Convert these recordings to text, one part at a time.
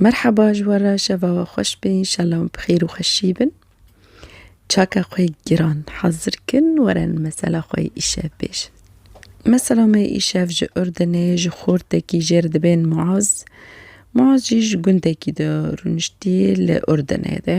Merheba ji we re şeva we xweş be înşela em bi xêr û xweşî bin. Çaka xwe giran hazir kin werin mesela xwe yê îşev bêjin. Mesela me yê îşev ji Urdinê ji xortekî jêr dibên Muaz. Muaz jî ji gundekî de rûniştî li Urdinê de.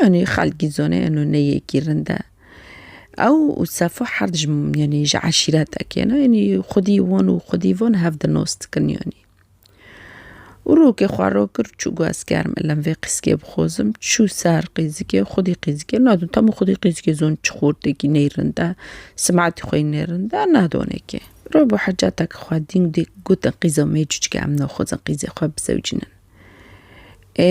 Yanî xelkî zonê eno ne yekî rind e. Ew û Sefo her di ji yanî ji eşîretekê ne yanî xwedî wan û xwedî van hev di nas dikin yanî. Û rokê xwe ro kir û çû got ez gerim elem vê qîzikê bixwazim. Çû ser qîzikê xwedî qîzikê nadin tam û xwedî qîzikê zon çi xortekî nê rind e, simetî xwe yî nê rind e nadonê kê. Rû bo Heceteke xwe dîn dê gotin qîza me cûcike em naxwazin qîzê xwe bizewicînin. Ê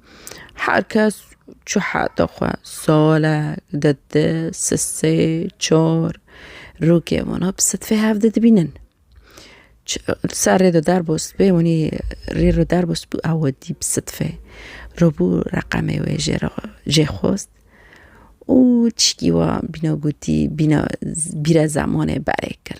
Her kes çi hate xwe, salek, dede, sisê, çar, rûkê wana bi sedfê hevdeh dibînin. Serrê de derbo spî wanî rê re derbo spî ew dî bi sedfê rûbû reqemê wê jê re jê xwest û tişkî wan bîna gotî bîna bîra zemanê berê kir.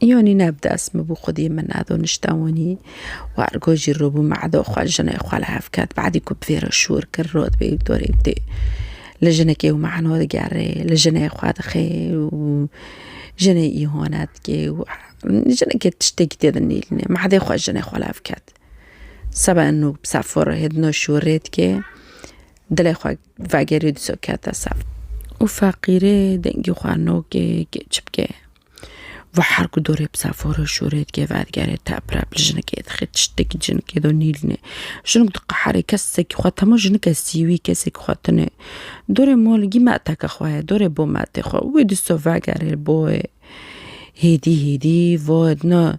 Îyonî ne bi dest min bû xwedî min edo nişte wanî û ergo jî rû bû me edo xwe jinê xwe li hev ket badî ku bi vê re şûr kir rot bê û dorê bidê li jinekê û mano digerê li jinê xwe dixê û jinê îhone dikê û jinekê tiştekî tê de nêlîne me edê xwe jinê xwe li hev ket seba eno bi ser forehê di no şûrê dikê dilê xwe Vegerê diso kete ser. Û feqîrê dengî xwe nokê kêç bike. Ve her ku dorê bi sefore şûrê dike vergerê teprep li jinikê dixe tiştekî jinikê do nîlne. Jinik diqeherê kesekî xwe temo jinike sîwî kesekî xwe tune. Dorê molgî meteke xwe ye dorê bo metê xwe. Wê diso vegerê boyê hêdî hêdî voye dina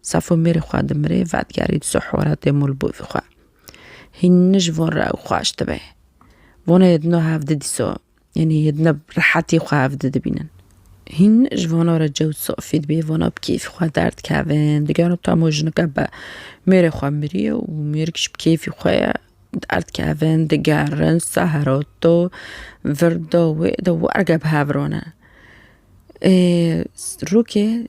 Safo mêrê xwe dimirê, vedigerî di ser horatê Mulbûvî xwe. Hîn nij von re ew xweş dibe. Vona yê dino hev di dîso, yanî yê dino bi rehetî xwe hev di dibînin. Hîn nij vona re cewt safî dibê, vona bi kêfî xwe derdikevin, digero tamo jinike be mêrê xwe miriye û mêrik ji bi kêfî xwe ye, derdikevin, digerin, sehero do, vir do wê do, werge bi hev rone. Ê rokê.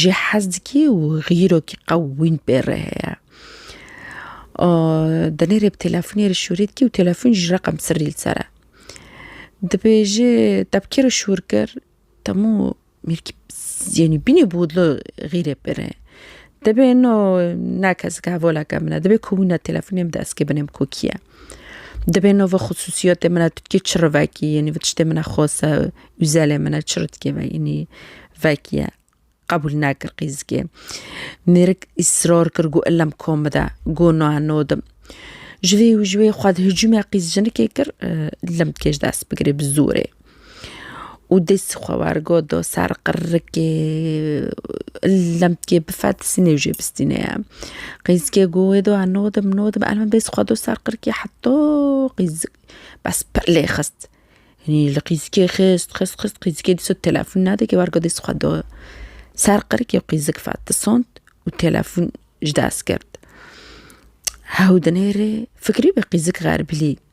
Jî hez dikî û xîrokî qewîn pê re heye. Demê rê bi telefonê re şûrê dikî û telefon jî reqem sirrî li ser e. Dibêje tepkê re şûr kir temû mêrkî yanî bînê bodlo xîrê pê re. Dibê no ne kesik hevoleke min e, dibê ku wina telefonê min destke binê min ku kî ye. Dibê nava xusûsiyetê min e tu dikê çi re vekî yanî vi tiştê min e xwese ûzelê min e çi re dikê yanî vekiye qebûl nekir qîzikê mêrik îsrar kir got illem kom bide got na nodim ji vê û ji wê xwe di hicûmê qîz jinikê kir illem dikê ji dest bigirê bi zorê. û dest xwe wergot da ser qirikê lemtikê bife dizînê jê bistîne ye. Qîzikê got wê da nodim nodim erê min dest xwe da ser qirikê heta qîzik bes pir lê xist. Hînî li qîzikê xist xist xist qîzikê dîsa telefon nedike wergo dest xwe da ser qirikê û qîzik fetisand û telefon ji dest girt. Hewdinê rê fikirîbû qîzik xeribîlî.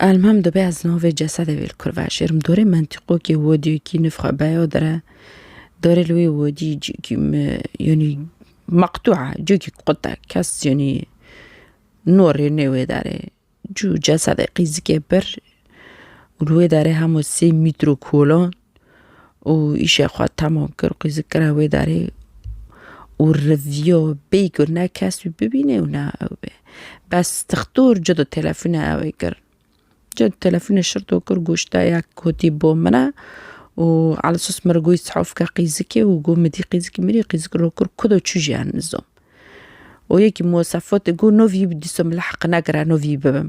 Elmam dibe ez navê cesedê wê li kurve şêrim. Dorê mentîqokê wediyekî nifxe beyo dire. Dorê li wê wedî cîkî me yanî meqtûa cîkî qute kes yanî norê nê wê derê. Cû cesedê qîzikê pir û li wê derê hemû sê mîtro kolan. û îşê xwe temam kir, qîzik kira wê derê û riviyo bêyî ku ne kes wî bibîne û ne ew bê. Bes dixtor cû di telefûnê ewê kir. Cû di telefûnê şirto kir goşta ya kotî bo min e û ala sos min goyî sihûf ke qîzikê û got min dî qîzikî min î qîzik ro kir ku do çû jiyan nizom. Û yekî mosefot got no vî dîso min li heq negire no vî bibim.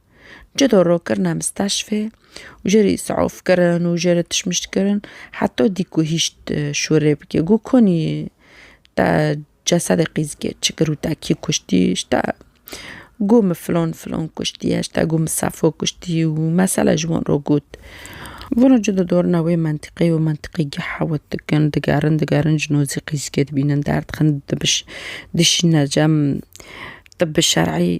Ji dorokirina mistaşfê û jê re îsafkirin û jê re tişmiştkirin heta dî ku hîşt şûrê bike. Got konî te cesedê qîzikê çi kir û te kî kuştî? Ji te got min filan filan kuştiye, ji te got min sefo kuştî û mesele ji wan re got. Vana ji dodorina wê mentiqê û mentiqê geh hewt dikin, digerin digerin ji nozî qîzikê dibînin derdixin dişîne cem tibi şerî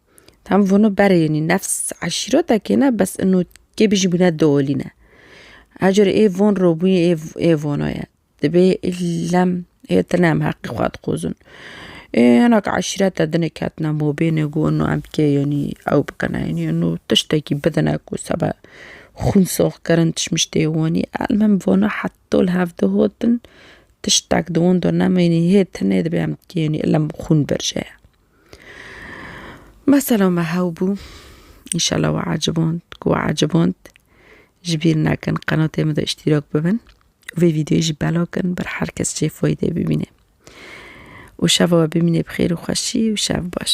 Tam vonu ber yenî nefs eşîretekê ne bes ino kê bîjî bûne dolî ne. Her carê ê von robûyê ê ê vono ye. Dibê îllem ê tine em heqê xwe dixwazin. Ê hinek eşîrete din ê ketine mobêne ku ino em kê yenî ew bikine yenî ino tiştekî bidine ku seba xwîn soxkirin tiştmiştê wanî elmim vona heto li hev de hatin tiştek di wan de neme yenî hê tine dibê em kê yenî îllem xwîn birje ye. Mesela me hew bû. Înşallah we eciband ku we eciband ji bîr nekin qenatê min de îştîrak bibin û vê vîdeoyê jî belakin ber her kes jê faydê bibîne. Û şeva we bimînê bi xêr û xweşî û şev baş.